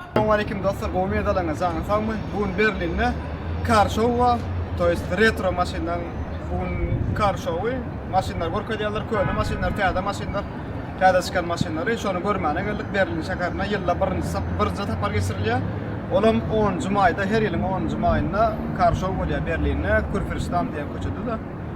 Assalamu aleykum dostlar, gowy medalaryň jany sagmy? Bu gün Berlinde kar show bar, to jest retro maşynlaryň bu gün kar showy, maşynlar görkezýärler, köne maşynlar, täze maşynlar, täze çykan maşynlary, şony görmäne geldik Berlin şäherine, ýylda birinji sap, birinji sapar geçirilýär. Olam 10-njy maýda, her ýylyň 10-njy maýynda kar show bolýar Berlinde, Kürfürştam diýen köçede-de.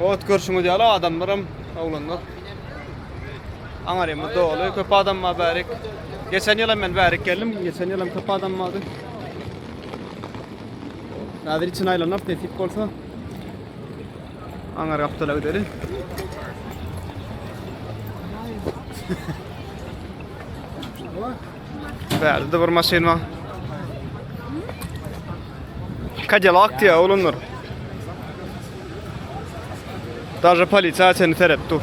Ot görşüňiz ýaly adamlaram oglanlar. Aňarymy doly köp adam bar bärik. Geçen ýyl hem men bärik geldim. Geçen ýyl hem köp adam bardy. Häzir içine aýlanyp nesip bolsa Aňar gapdala gideli. Bärde bir maşyn bar. Cadillac diýýär oglanlar. Daže polisiýa seni serep dur.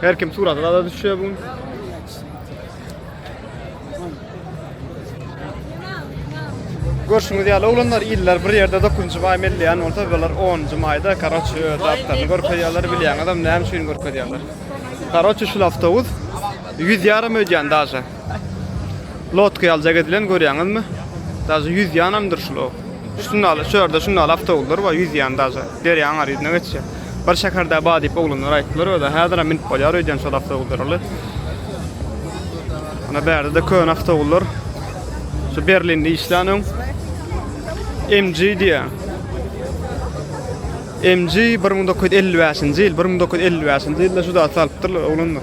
Her kim suratı da düşüyor bugün. Görşüňiz ýaly oglanlar iller bir ýerde 9-njy maý mellýan bolsa bular 10-njy maýda karaçy dagtlaryny görkezýärler bilýäňizem näme üçin görkezýärler. Karaçy şul awtobus 100 ýaram öýdýän daşa. Lodka ýaly zäk edilen görýäňizmi? Daže ýüzýänamdyr şular. Şunda ala, şu ýerde şunda ala awtobuslar bar, ýüzýän daže. Derýaň aryzna geçýär. Bir şäherde bar diýip oglanlar aýtdylar özä. Häzir hem minip bolýar öýdýän şol awtobuslara. Ana bärde-de köne awtobuslar. Şu Berlinde işlän öň. MG diýär. MG 1955-nji ýyl, 1955-nji ýylda şu zat salypdyrlar oglanlar.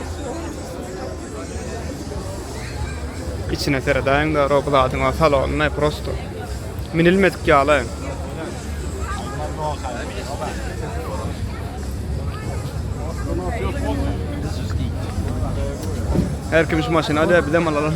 Içine seredäýiň de Rob zadyň o salonyny prosto minilmedik ýaly. Her kim şu maşyny alýar, bizem alalım.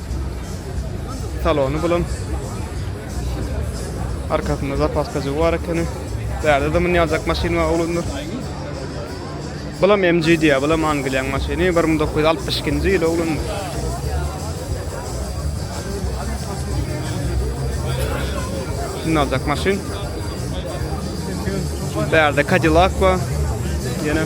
Salony bulan. Arkasynda zapaska jygy bar ekeni. Bärde de münýä aljak maşyn bar oglanlar. Bulam MG diýýär, bulam Angliýaň maşyny. 1962-nji ýyl oglanlar. Şunu aljak maşyn. Bärde Cadillac bar. Ýene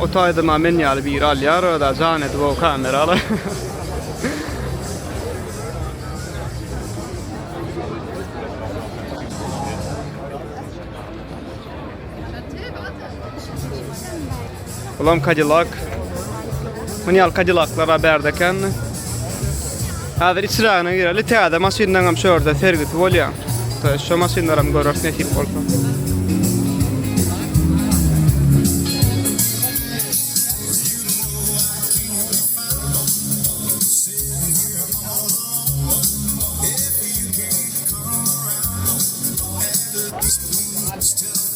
O taýdama men ýaly biri alýar öda jan edip o kamerala. Ulan Cadillac. Mün ýaly kadilaklar a bärde ekendi. Hazır içragyna gireli täze maşyndan hem şu ýerde sergisi bolýar. Şu maşynlar hem görürs nesip bolsa.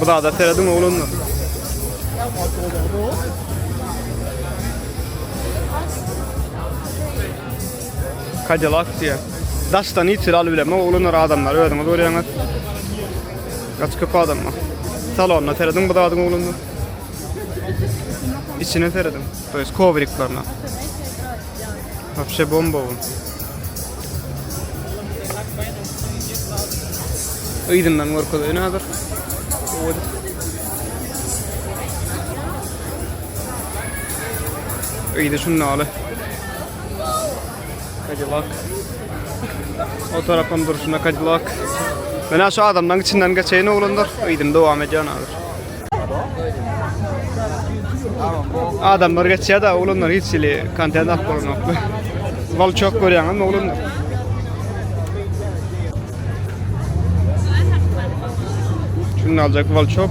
Bu da serediň oglanlar. Cadillac diye. Daşdan hiç aly bileme oglanlar adamlar özüňiz görýäňiz. Gaç köp adam var. Salonda serediň bu zadyň oglanlar. İçine serediň. Toýuz kovriklerine. Wapşe bomba bu. Yzyndan görkezeýin hazır. Yzy şunda aly. Cadillac. O tarafam duruşuna Cadillac. Mena şu adamdan içinden geçeýin oglanlar. Yzyn dowam edýän hazır. Adamlar geçýär da oglanlar hiç hili kontent alyp bolanoklar. Bal çok görýäňiz oglanlar. Şunu aljak bal çok.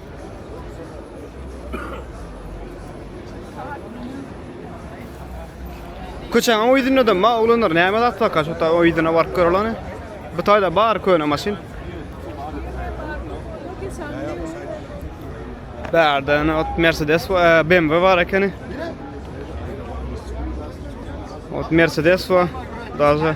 Köçäň o ýüzünde-de ma oglanlar näme zat baka, şo ta o ýüzüne baryp göreleni. Bu taýda bar köne maşyn. Bärde ýene ot Mercedes we e, BMW bar ekeni. Ot Mercedes we daže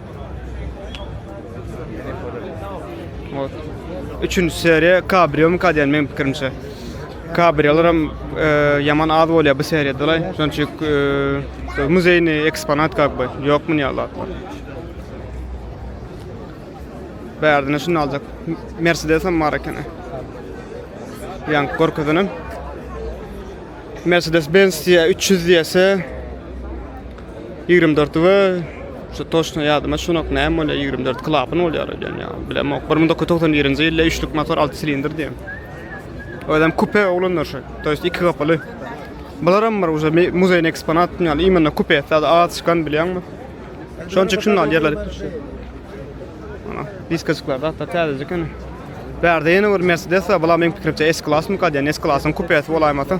Ot. Üçünji seriýa Cabrio mu kadýan meň pikirimçe. Cabriolar hem e, ýaman az bolýar bu seriýada laý. Şonuň üçin e, muzeýni eksponat kak by. Ýok mu ýaly atlar. Bärdine şunu aljak. Mercedes hem bar ekeni. Ýaň görkezenem. Mercedes Benz diýä 300 diýese Ýigrimi dörti we şu toçna ýadyma şunok näme bolýar ýigrimi dört klapany bolýar öýdýän ýa bilemok bir müň dokuz ýüz togsan birinji ýylda üçlük motor alty silindr diýen özem kupe oglanlar şu to ýest iki gapyly bularam bir уже muzeýne eksponat ýaly именно kupe sada az çykan bilýäňmi şonuň üçin şunu al ýerler ana diskasyklar hatda täzeje ekeni bärde ýene bir mercedes bar bular meniň pikirimçe s klasmyka diýen s klasyň kupesi bolaýmasyn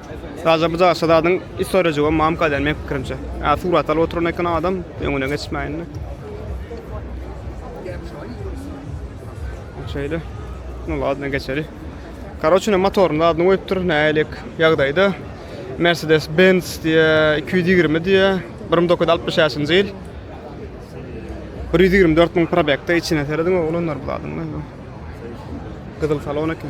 Sadajä bu daşda zadyň istorýajygy hem mam gaýdan meň pikirimçe. Ä surat alyp oturan eken adam öňüne geçmäýindi. Şeýle. Nu ladna geçeli. Karoç ine motoryny zadyny goýupdyr nälik ýagdaýda. Mercedes Benz diýe 220 diýe 1965-nji ýyl. 124 müň probekde içine serediň oglanlar bu zadyň. Gyzyl salon eken.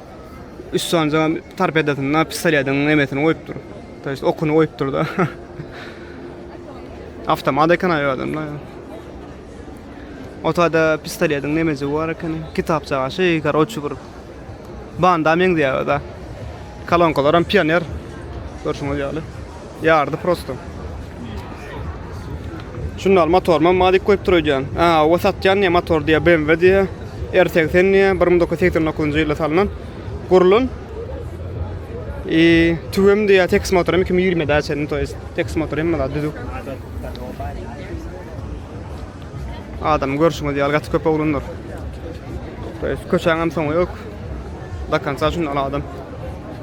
Üstünde tarpedasynda pistoletiň nemesini goýupdyr. To jest okuny goýupdyr da. Avtomat eken aýy adamda. Otada pistoletiň nemesi bar eken. Kitapçaga şey, karoçi bir. Banda meňzeýär da. Kolonkalar hem pioner. Görşüňiz ýaly. Yardy prosto. Şunlar motor mam madik koyup dur öýdýän. Aa, o satýan diýe motor diýe BMW diýe. R80 diýe 1989-njy ýylda salnan. Gurlun. I tüwem diýe teks motor 2020-de açan, to jest teks motor hem bala düzük. Adam görüşüňiz ýaly gaty köp oglanlar. To jest köçäň hem soňy ýok. Dakansa şundan adam.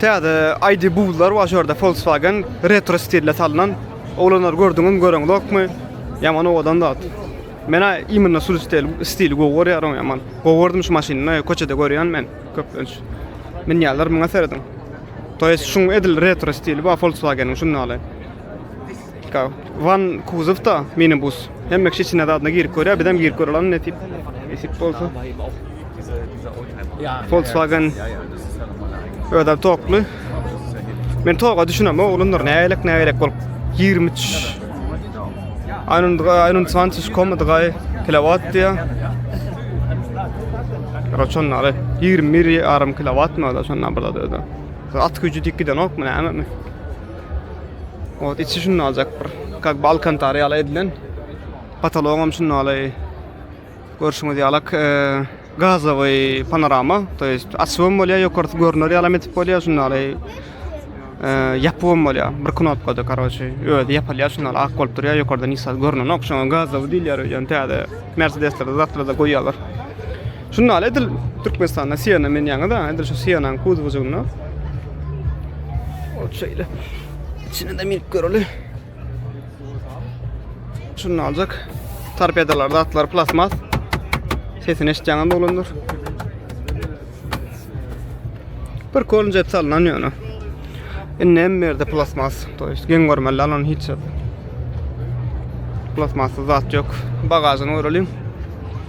Täze ID buzlar bar şu ýerde Volkswagen retro stilde salnan. Oglanlar gördüňizmi, göreňizokmy? Ýaman owadan zat. Men imенно şu stil, stili gowy görýärin ýaman. Gowy gördüm şu maşyny, köçede görýän men köplenç. Münýänler muňa serediň. To ýest şuň edil retro stili bar Volkswagen-iň şunda ýaly. Wan kuzowda minibus. Hemme kişi içine zadyna girip görýär, bizem girip görelim nesip nesip bolsa. Volkswagen özem tokly. Men toga düşünem, oglanlar nägelek nägelek bolup 23 Aynunga Aynun Svantis komudgay kilowatt diye. Roçon nare 21 yarım kilowatt mı da şondan burada da. At gücü dik giden ok mu näme mi? Ot içi şunda aljak bir. Kak balkantar ýaly edilen. Patolog hem şunda aly. Görşüňiz ýaly e, gazowy panorama. To jest açwym bolýar, ýokarsy görner ýaly hem edip bolýar şunda aly. E, Ýapwym bolýar. Bir knopkada karoçi. Özi ýapylýar şunda aly. Ak bolup durýar, ýokardan nisat görnenok. Şoňa gazowy diýilýär öýden täze. Mercedeslerde, Zatrada goýýarlar. Şunda ýaly edil Türkmenistanda Siena menýäňiz, edil şu Sienanyň kuzowjygynda. Ol şeýle. Içine de minip göreli. Şunda aljak. Torpedalar, zatlar plasmas. Sesini eşitýäňiz dolandyr. Bir kolun jet salnan ýöne. Indi hem berde plasmas, to ýest geň görmeli alan hiç zat. Plasmasy zat ýok. Bagajyny göreliň.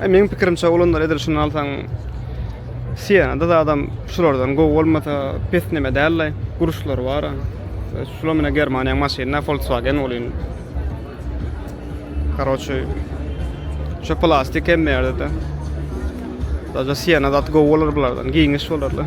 Meň pikirimçe olanlar edil şuny alsaň Sienada zadam şulardan gowy bolmasa pes neme däldi. Guruşlary bar. Şular mine Germaniýaň maşyny, Volkswagen bolýan. Karoçe. Şu plastik hem berde de. Zaten Siena zat gowy bolar bulardan. Giňiş bolarlar.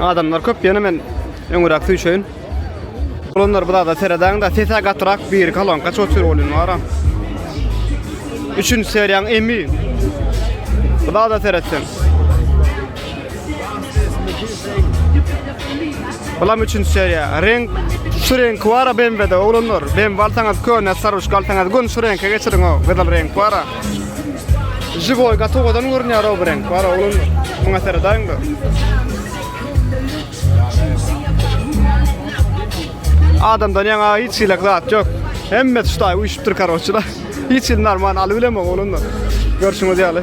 Adamlar köp ýene men öňüräk süýşeýin. Olanlar bu da seredäň da sesä gatrak bir kolonka çok sür bolýan bar. Üçünji seriýaň emi. Bu da seretseň. Bulam üçünji seriýa. Reňk şu reňk bara BMW-de oglanlar. BMW alsaňyz köne saruş galsaňyz gün şu reňke geçiriň o. Gyzyl reňk bara. Jigoý gatowadan görünýär o bu reňk bara oglan. Muňa seredäýiň de. Adamdan ýaňa hiç hilek zat ýok. Hemme tuşdaý uýşupdyr karoçylar. Hiç il normal alyp bilemok oglanlar. Görşüňiz ýaly.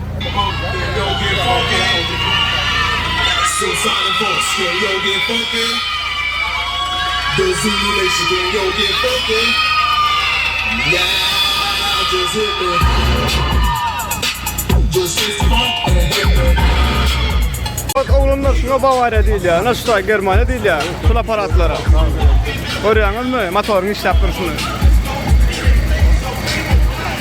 Bak oglanlar şuna Bawariýa diýilýär, naşta Germaniýa diýilýär şul aparatlara. Görýäňizmi motoryň işläp durşuny?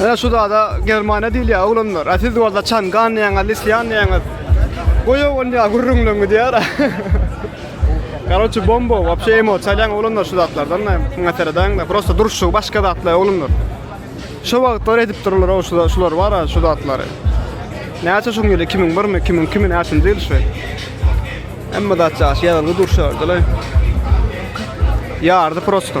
Ana şu zada Germaniýa diýilýär oglanlar. A siz bolsa Çangan diýýäňiz, Lisýan diýýäňiz. Goýa bolýar gürrüňleň gidýär. Karoçi bomba, wapşe emo, çalýan oglanlar şu zatlardan da, muňa seredäň da, prosta duruşy başga zatlar oglanlar. Şu wagtlar edip durlar o şu şular bar şu zatlary. Näçe şu ýyl 2001 mi, 2002 mi näçe ýyl şu. Emma zatça ýaly durşardylar. Ýardy prosta.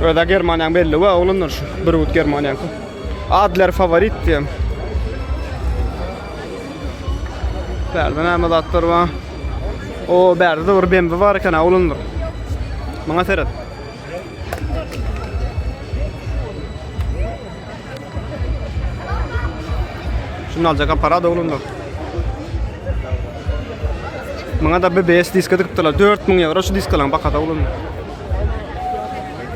Öde Germaniýaň belli we oglanlar şu bir wut Germaniýaň. Adler favorit diýem. Bärde näme zatlar bar? O, bärde de bir BMW bar eken, oglanlar. Maňa seret. Şunu aljak aparat oglanlar. Muňa da BBS diska dikipdiler. 4000 euro şu diskalaryň bahasy oglanlar.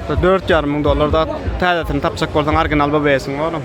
4,5 ming dollarda täzesini tapjak bolsaň original BBS-iň oglum.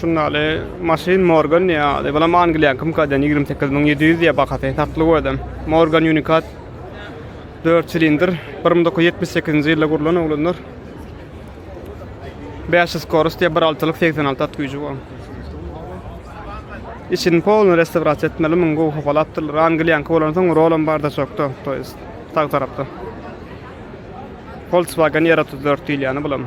Şundaly maşyn Morgan diýýär ady. Bulam Angliýankymkadan ýigrimi sekiz müň ýedi ýüz diýýär bahasy. Satly özem. Morgan Unikat dört silindr. Bir müň dokuz ýüz ýetmiş sekizinji ýylda gurlan oglanlar. Bäş ýüz skorost diýýär bir altylyk segsen alty at güýji bar. Içini polny restavrasiýa etmeli, muňa gowy hopalapdyrlar. Angliýanky bolansoň rolam bar da çokda, to ýest sag tarapda. Volkswagen R otuz dört diýilýäni bulam.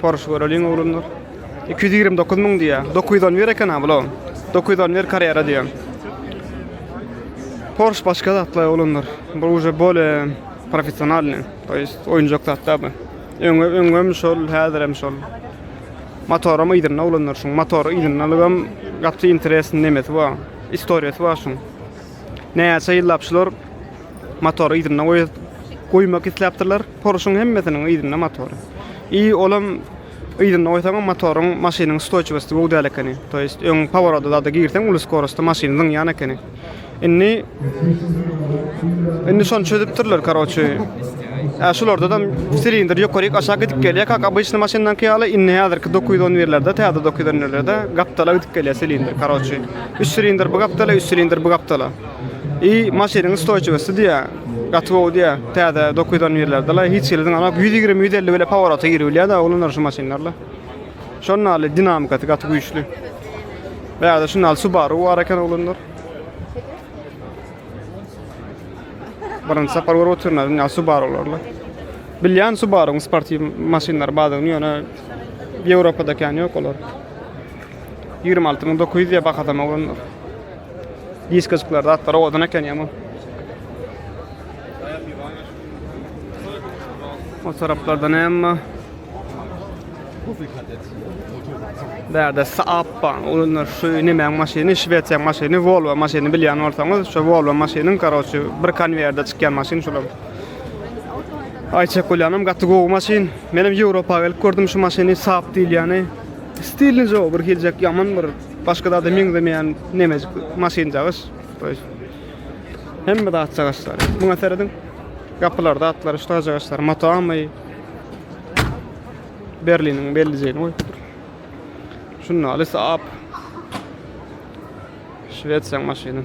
Porsche göreliň oglanlar. 229 müň diýä. 910 ber eken ha bula. 910 ber karýera diýä. Porsche başga zatlar oglanlar. Bu uje bole professionalny. To ýest oýunjak zatlar bu. Öňe öňem şol, häzir hem şol. Motorum ýerinde oglanlar şuň. Motory ýerinde lygam gaty interesni nemesi bar. Istoriýasy bar şuň. Näçe ýyllap şular Motory yzynda goýmak isläpdirler. Poruşyň hemmesiniň yzynda motory. I olam yzynda goýsaňam motoryň maşynyň ustoýçiwosty gowy däl ekeni. To ýest öň poworoda zada girseň uly skorostda maşyn zyňýan ekeni. Indi Indi şony çözüpdirler karoçi. Ä şulardadam silindr ýokaryk aşak gidip gelýä kak obyçny maşyndaňky ýaly indi häzirki dokuz ýüz on birlerde täze dokuz ýüz on birlerde gapdala gidip gelýä silindr karoçi. Üç silindr bu gapdala üç silindr bu gapdala. I maşynyň ustoýçiwosty diýýä gaty gowy diýýä täze dokydan ýerlerdela hiç hili zyňanak ýüz ýigrimi ýüz elli bile paworata giribilýäda oglanlar şu maşynlarla şon naly dinamikasy gaty güýçli bärde şu naly subaru bar eken oglanlar birinji sapar görüp otyrna dünýä subarularla bilýän subaruň sportiw maşynlary badygyny ýöne ýewropada kän ýok olar ýigrimi alty müň dokuz ýüz diýýä bahasam oglanlar Diskajyklar zatlar owadan eken ýaman. O taraplarda näme? Bärde Saab bar. Olar şu näme maşyny, Şwesiýa maşyny, Volvo maşyny bilýän bolsaňyz, şu Volvo maşynyň karoçy bir konweýerde çykýan maşyn şular. Aýçek bolýanym gaty gowy maşyn. Menem Ýewropa gelip gördüm şu maşyny Saab diýilýäni. Stilni jo bir hiljek ýaman bir Başga zada meňzemeýän nemejik maşynjagaz. Hemme zat jagazlar. Muňa serediň. Gapylar, zatlar, şu jagazlar, motoamy. Berliniň bellijegini goýupdyr. Şunda alysy ap. Şwesiýaň maşyny.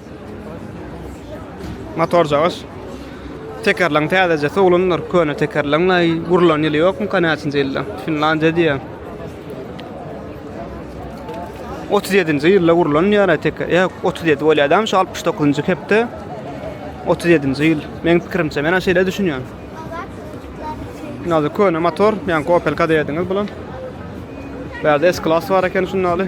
Motorjagaş. Tekerleň täzeje sowlandyr. Köne tekerleň naý gurlan ýyly ýokmy ka näçinji ýylda? Finlandiýa diýýär. 37-nji ýylda gurlan diýýär teker. Ýa 37 bolýardam şu 69-njy hepde. 37-nji ýyl. Meň pikirimçe men şeýle düşünýän. Nazy köne motor, ýa Opel Kadett diýdiňiz bulan. Bärde S-Class bar eken şundaly.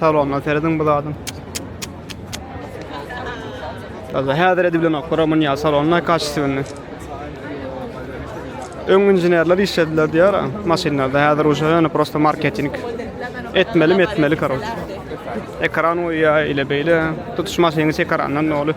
Salondan serediň bu zadyň. Gaza häzir edip bilen okura mun ya salonuna kaçtı bindi. Ön inženerler işlediler diyor maşynlarda häzir uşa yani prosta marketing etmeli etmeli karoç. Ekran o ya ile beyle tutuş maşynyň ekrandan ne olup.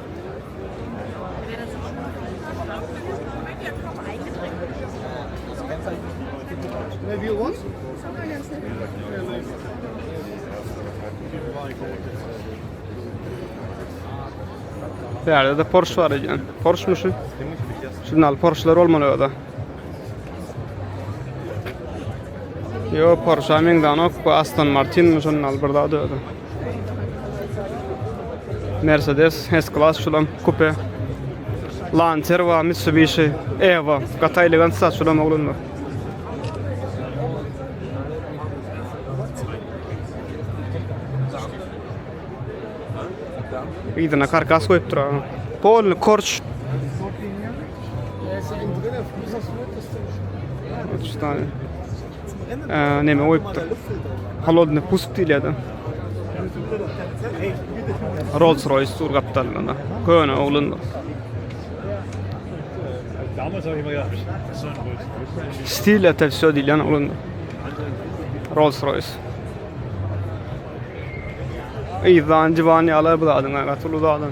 Bärde de Porsche bar eken. Porsche mu şu? Şundan al Porsche'lar olmaly o da. Yo Porsche meňzanok bu Aston Martin mi şundan al bir zat öde. Mercedes S-Class şulam kupe. Lancer wa Mitsubishi Evo. Gata elegant sat şulam oglanlar. Ydyna karkas koyup tura. Polny korç. Üç tane. neme goýupdyr. Holodny pusk diýilýärdi. Rolls Royce tur gapdalynda. Köne oglun. Stil etel şo diýilýän oglun. Rolls Royce. Ey zancı van ya la bu adına katul uzadan.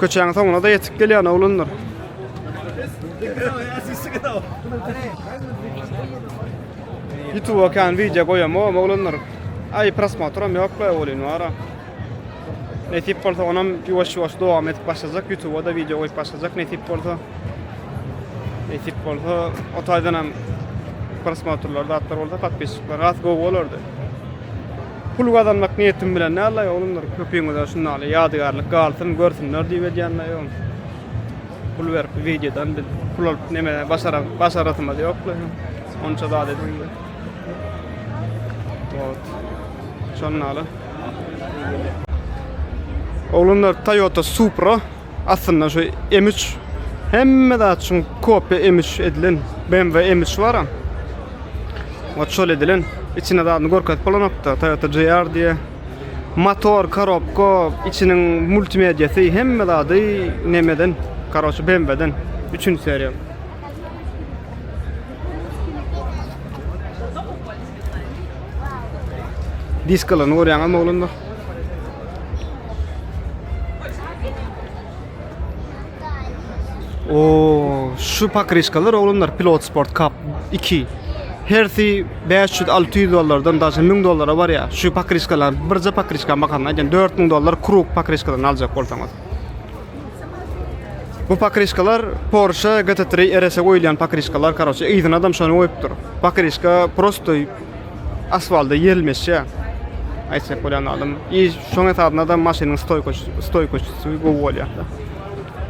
Köçäň soňuna-da ýetip gelýän oglanlar. Ýutuba kan wideo goýamok oglanlar. Aý prosmotram ýok be welin bara. Nesip bolsa onam ýuwaş-ýuwaş dowam edip başlajak ýutuba-da wideo goýup başlajak nesip bolsa. Nesip bolsa o taýdanam prosmotrlar zatlar bolsa podpisçikler az gowy bolardy. Pul gazanmak niýetim bilen däldi-aý oglanlar, köpüňize şundaly ýadygärlik galsyn, görsünler diýip edýän-de ýogyn. Pul berip bu wideodan biz pul alyp neme başaram, başarasymyz ýok-la. Onça zat edip. Wot. Şondaly. Oglanlar Toyota Supra Aslynda şu M üç hemme zat üçin kopýa M üç edilen BMW M üç baram. Ot şol edilen. İçine zadyny görkezip bolanokda. Toyota GR diye. Motor, korobka, içiniň multimediýasy hemme zady nemeden. Karoçi BMW'den. Üçünji seriýa. Diskalaryny görýäňizmi oglanlar? O, şu pakriçkalar oglanlar Pilot Sport Cup 2. Hersi 500-600 dollardan daşy 1000 dollara bar ya. Şu pakriçkalar birje pakriçka bakan aýdan 4000 dollar krug pakriçkadan aljak bolsaňyz. Bu pakryşkalar Porsche GT3 RS-e goýulýan pakryşkalar karoçe yzyna adam şony goýupdyr. Pakryşka prosto asfalda ýerilmeşýär. Aýtsak bolýan adam. I şoň hasabyna da maşynyň stoýka stoýka üçin gowy bolýar.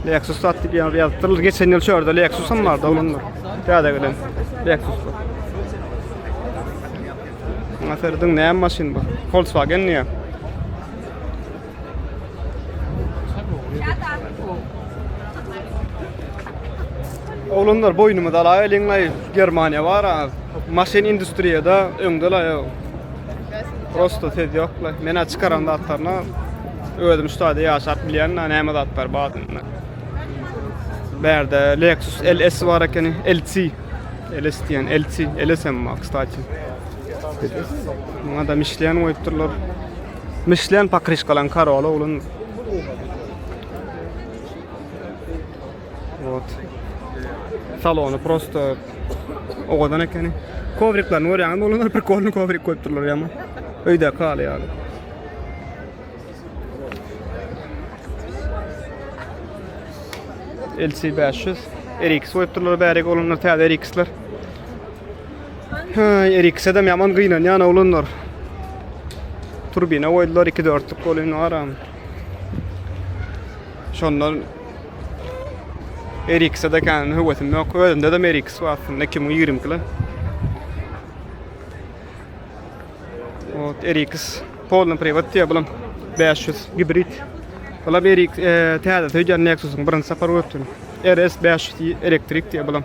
Lexus sat diýip ýazypdyr. Geçen ýyl şu ýerde Lexus hem bardy onuň. Täze gelen Lexus. Aferdiň näme maşyn bu? Volkswagen diýýär. Oglanlar boýnumy dalaý eliňlaý Germaniýa bar ha. Maşyn industriýada öňdela ýok. Prosta söz ýokla. Men aç çykaran zatlaryna özüm şu taýda ýaşap bilýän da näme zatlar bar diýme. Bärde Lexus LS bar ekeni, LC. LS diýen LC, LS hem bar, kstati. Muňa da Michelin goýupdyrlar. Mişlen pakryşkalaň karoly oglun. Ot. Salony prosto owadan ekeni. Kovriklerini görýäňizmi? Olar bir kolny kovrik goýup durlar ýa-mu? Öýde kaly ýaly. LC 500 RX goýup durlar bärik olanlar täze RX-ler. Haý, her ikisem ýaman gynanýan oglanlar. Turbina goýdular, iki dörtlük bolýan waram. Şondan Eriks'e de kän höwesim ýok. Özümde de Eriks bar aslynda 2020 kili. Ot Eriks polny privat diýe bilim 500 gibrid. Bula Eriks e, täze söýdän Nexus'un birinji sapar gördüm. RS 500 elektrik diýe bilim.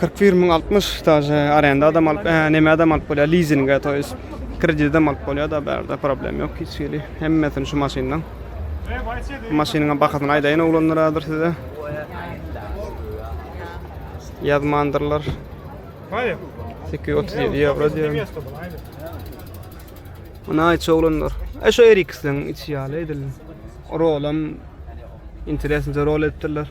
Kyrk bir müň altmyş daže arenda adam alyp, e, neme adam alyp bolýar, lizinge, to ýes kreditde alyp bolýar da bärde problem ýok hiç hili. Hemmesini şu maşyndan. Maşynyň bahasyny aýdaýyn oglanlar häzir size. Ýazmandyrlar. 837 ýewro diýýär. Ana aýç oglanlar. E şu Eriksden içi ýaly edildi. Rolam interesli rol etdiler.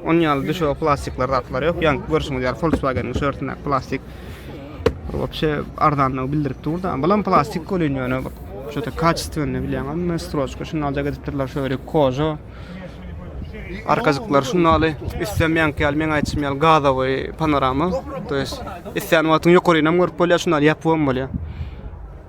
Onuň ýaly düşege plastikler zatlar ýok. Ýaňky görşüňiz ýaly Volkswagen-iň şörtündäki plastik bir wapşe arzanlygy bildirip dur-da. Bulam plastik welin ýöne bir şo-da kaçestwenini bilýäňizmi? Stroçka şundaljak edipdirler, şo ýeri koža. Arkajyklar şundaly, üstem ýaňky ýaly meň aýtşym ýaly gazowy panorama. To ýest islän wagtyň ýokarynam görüp bolýar, şundaly ýapybam bolýar.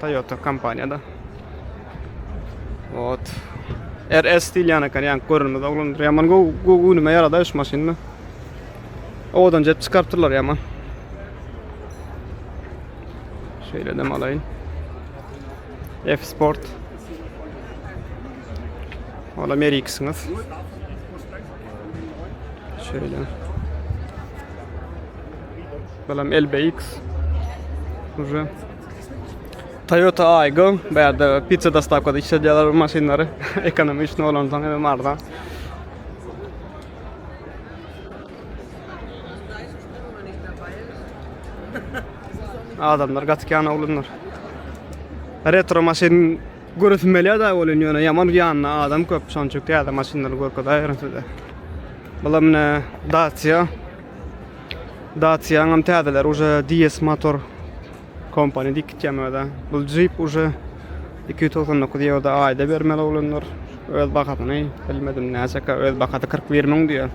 Toyota kompaniýada. Ot. RS diýilýän eken, ýaňky görünmez oglandyr. Ýaman gowy gowy ünüme ýarada şu maşynda. Owadan jet çykartdylar ýaman. Şeýle dem alaýyn. F Sport. Ola Merixňiz. Şeýle. Balam LBX. Уже Toyota Aygo, bärde pizza dostavkada işledýärler bu maşynlary. Ekonomi üçin olandan hem arzan. Adamlar gaty kän oglanlar. Retro maşyn görüsim gelýär da bolýan ýöne ýaman ýanynda adam köp. Şonuň üçin täze maşynlary görkezäýerin size. Bular mine Dacia Dacia-nyňam täzeleri uje DS motor kompaniýa diýip gitýän öde. Bu Jeep uje 299 ýewroda aýda bermeli oglanlar. Öz bahasyny bilmedim näçeka öz bahasy 41 müň diýýär.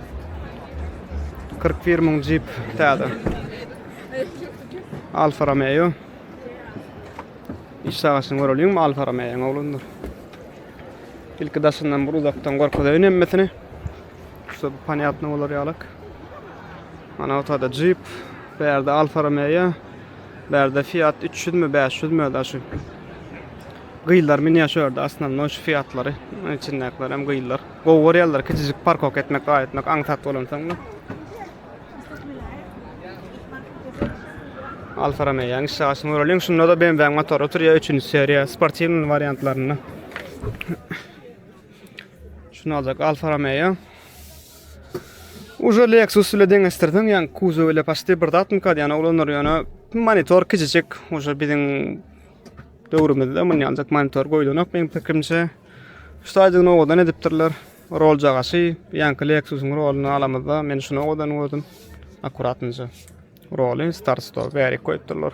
41 müň Jeep täze. Alfa Romeo. Iş sagaşyny göreliň Alfa Romeo oglanlar. Ilki daşyndan bir uzakdan görkezeýin hemmesini. Şusa bu ponyatno bolar ýalak. Ana otada Jeep, bärde Alfa Romeo, bärde Fiat 300 mi, 500 mi da şu. Gyýlar meni şu ýerde asnamno şu Fiatlary, içindäkiler hem gyýlar. Gowy görýärler, kiçijik parkok etmek, gaý etmek, aňsat bolansoň. Alfa Romeo ýaň işe aşyň göreliň. Şunda da BMW motor otur ýa 3-nji seriýa, sportiwny wariantlarynda. Şunu aljak Alfa Romeo. Ujo Lexus ile deňeşdirseň, ýa kuzow ile paşty bir zat mukad, ýa oglanlar ýöne monitor kiçijik, ujo biziň döwrümizde muny aljak monitor goýulanok meň pikirimçe. Şu taýdan owadan edipdirler. Rol jagaşy, ýanki Lexusyň roluny alamyzda, men şunu owadan gördüm. Akkuratnja. Roly, start stop, bärik goýupdyrlar.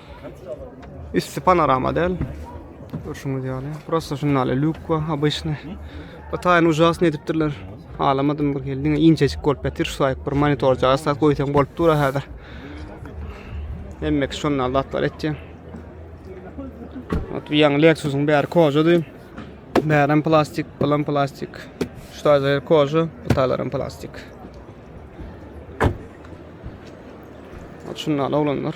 Üsti panorama däl. Görşüňiz ýaly. Prosta şunda ýaly luk we habyşny. Bu taýyny ujasny edipdirler. Alamadym bir geldi. Inçejik bolup ýatyr şu taýyk bir monitor jaýsa goýsaň bolup dur häzir. Hemmek şunda ýaly zatlar etdi. Ot ýaň Lexusyň bäri kojady. Bärim plastik, bulam plastik. Şu taýda kojy, bu taýlaram plastik. Ot şunda ýaly oglanlar.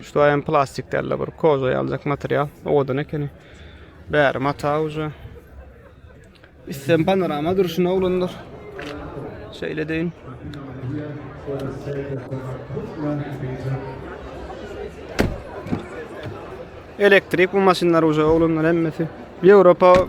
Şu aýam plastik däl-de bir koza ýaljak material. Owadan ekeni. Bäri mata uja. Üstem panorama durşuna oglanlar. Şeýle deýin. Elektrik bu maşynlar uja oglanlar hemmesi. Ýewropa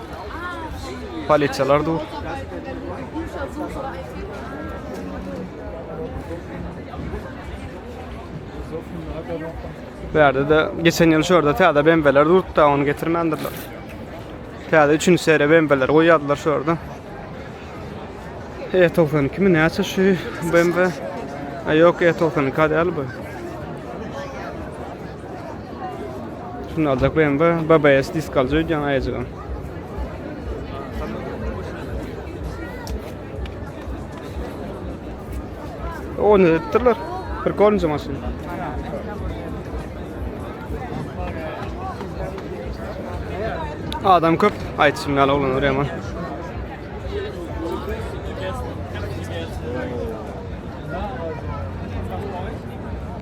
Polisiýalar dur. Bu ýerde de geçen ýyl şu ýerde täze bembeler durupdy, ony getirmändirler. Täze 3-nji seriýa bembeler goýýardylar şu ýerde. E92 mi näçe şu BMW? A ýok, E92 däl bu. Şunu aljak BMW, BBS disk aljak öýdýän aýajygam. Onu ettirler. Bir kornca maşyn. Adam köp. Aytışım ýaly oglan oraya man.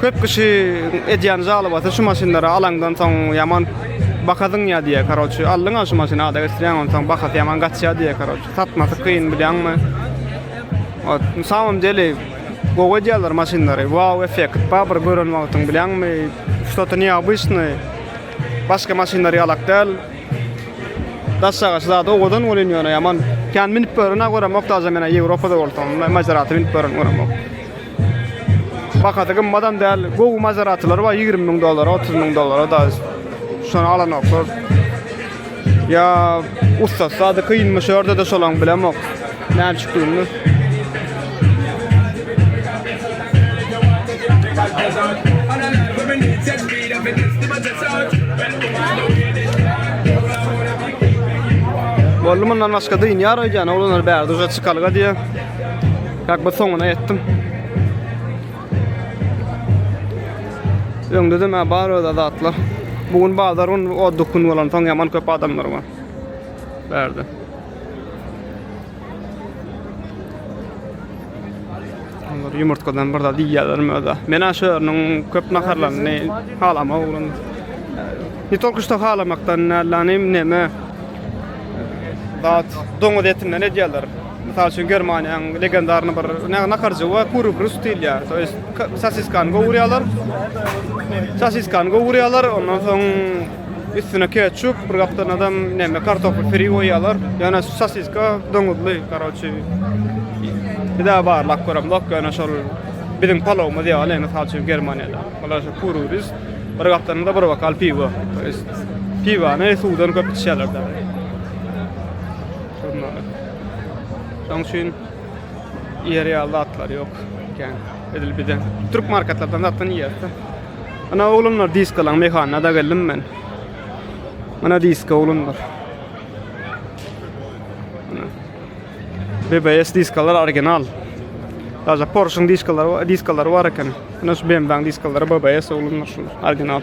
Köp kişi edýän žalobasy şu maşynlara alaňdan soň ýaman baha zyňýar diýýär karoçi. Aldyňa şu maşyny ada geçirýäň onsoň bahasy ýaman gaçýar diýýär karoçi. Satmasy kyn bilýäňmi? Ot, na samom deli gowy edýärler maşynlary. Wow effekt bar bir gören wagtyň bilýäňmi? Ştoto neobıçny. Başga maşynlar ýalak däl. Daşagaç zady owadan bolýan ýöne ýaman. Kän minip görün a göremok daşa men a Ýewropada bolsam. Maserati minip görün göremok. Bahasy gymmadam däl. Gowy Maseratiler bar ýigrimi müň dollara, otuz müň dollara da şony alanoklar. Ýa ussat zady kynmy şu ýerde-de şolaň bilemok. Näme çykdygyny. Boldy mundan başga dynýar öýdýän oglanlar bärde uja çykalga diýýär. Bak bu soňuna etdim. Öňde de bar öz adatlar. Bugün bazar gün o dokun bolan soň yaman köp adamlar var. Berdi. Onlar yumurtkadan bir da diýýärler möda. Men aşörüniň köp naharlaryny halama oglan. Ne tolku şu halamakdan nälanym neme. Dat doňuz etinden edýärler. Mysal üçin Germaniýanyň legendarny bir naharjygy bar, Kurubrust diýilýär. To ýest sosiskany gowurýarlar. Sosiskany gowurýarlar, ondan soň üstüne ketçup, bir gapdan adam näme kartofl piri goýýarlar. Ýöne sosiska doňuzly, garawçy. Bida barlap görem bak, ýöne şol biziň palowymyz ýaly, mysal üçin Germaniýada. Olar şu kurubrust, bir gapdan da bir bokal piwo. To ýest piwany suwdan köp içýärler. Turnaly. Şoň üçin ýeri ýaly zatlar ýok. Kän. Edil bize türk marketlerden zatdan ýerde. Ana oglanlar diskalan mehanyna da geldim men. Ana diska oglanlar. BBS diskalar original. Daja Porsche-yň diskalary bar, diskalary bar eken. Ana şu BMW-yň diskalary BBS oglanlar şu original.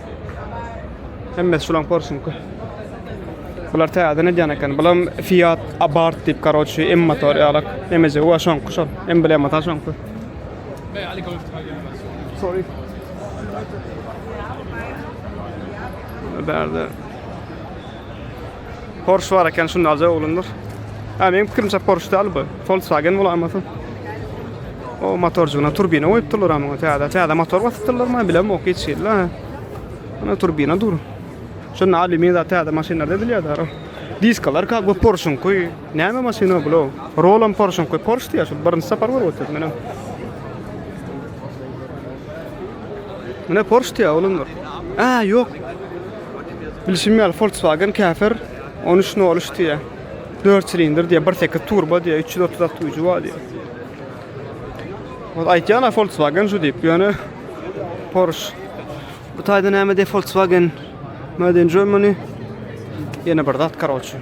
Hemmesi şulaň porşunky. Bular täze nedýan eken. Bulam Fiat Abarth diýip, karoçi, M motor ýalak. Emejegi wa şoňky şol. Emblema ta şoňky. Sorry. Bärde Porsche bar eken şunda aljak oglanlar. Ha meň pikirimçe Porsche däl bu. Volkswagen bolamasy. O motorjygyna turbina goýupdylar ama täze täze motor basypdyrlarmy bilem ok hiç ýerle. Ana turbina dur. Şunda alümin zat täze maşynlarda edilýärler. Diskalar ka bu Porsche koy. Näme maşyna bu? Rolam Porsche koy. Porsche diýär şu birinji sapar görüp oturdum men. Mene Porsche diýär oğlumlar. Ha yok. Bilşim ýaly Volkswagen käsir on üç nol üç diýýär. Dört silindr diýýär, bir sekiz turbo diýýär, üç ýüz otuz at güýji bar diýýär. Ol aýtýan Volkswagen şu diýip, ýöne Porsche. Bu taýda näme diýip Volkswagen Made in Germany. Ýene bir zat karoçi.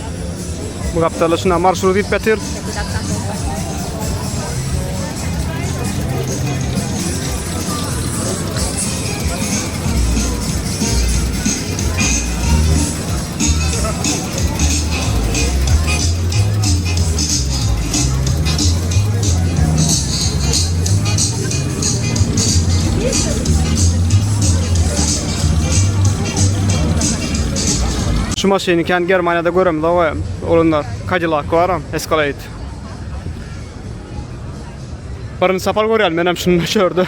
Bu gapdala şuna marşrut edip getir. Şu maşyny kän Germaniýada göremizok we onuň-da Cadillac-y baram, Escalade. Birinji sapar görýän menem şuny şu ýerde.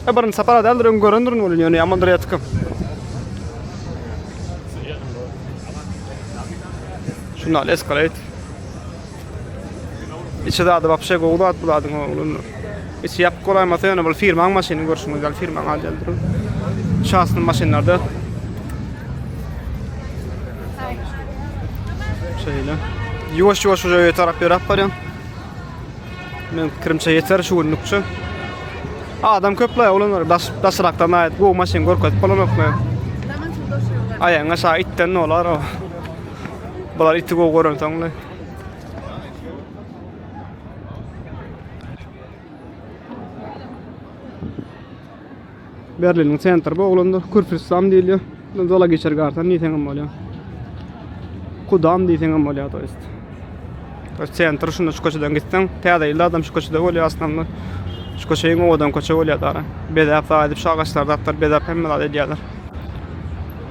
Ýa birinji sapar-a däldir, öň görendirin welin, ýöne ýamandyr ýatyka. Şunda Escalade. Içi zady wapşe gowy zat bu zadyň oglan. Içi ýapyk bolaýmasa ýöne bul firmaň maşyny görşüňiz ýaly firmaň alýan durup. Şahsy maşynlarda şeýle. Ýuwaş ýuwaş şoja ýeter tarap ýerap barýan. Men kirimçe ýeter şu günlükçe. Adam köpläý oglanlar daş daşrakdan aýt gowy maşyn görkezip bolanokmy? Aýaňa şa itden olar o. Bular iti gowy gören soňda. Berliniň sentri bu oglanda Kürfristan diýilýär. Bundan zala geçer garsan diýseň hem bolýar. Kudam diýseň hem bolýar to jest. Öz sentri şunda şu köçeden gitseň, täze ýylda adam şu köçede bolýar aslynda. Şu köçe iň owadan köçe bolýar dara. Bezäp, edip şu agaçlar zatlar bezäp hemme zat edýärler.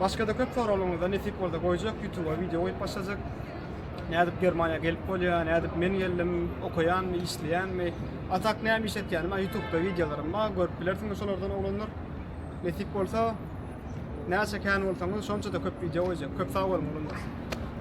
Başga-da köp soraglaryňyza nesip bolsa goýjak, YouTube-a wideo goýup başlajak. Nädip Germaniýa gelip bolýar, nädip men geldim, okaýanmy, işleýänmi, a tak näme iş etýänim, a YouTube-da wideolarym bar, görüp bilersiňiz şolardan oglanlar. Nesip bolsa, näçe kän bolsaňyz, şonça-da köp wideo goýjak. Köp sag boluň, oglanlar!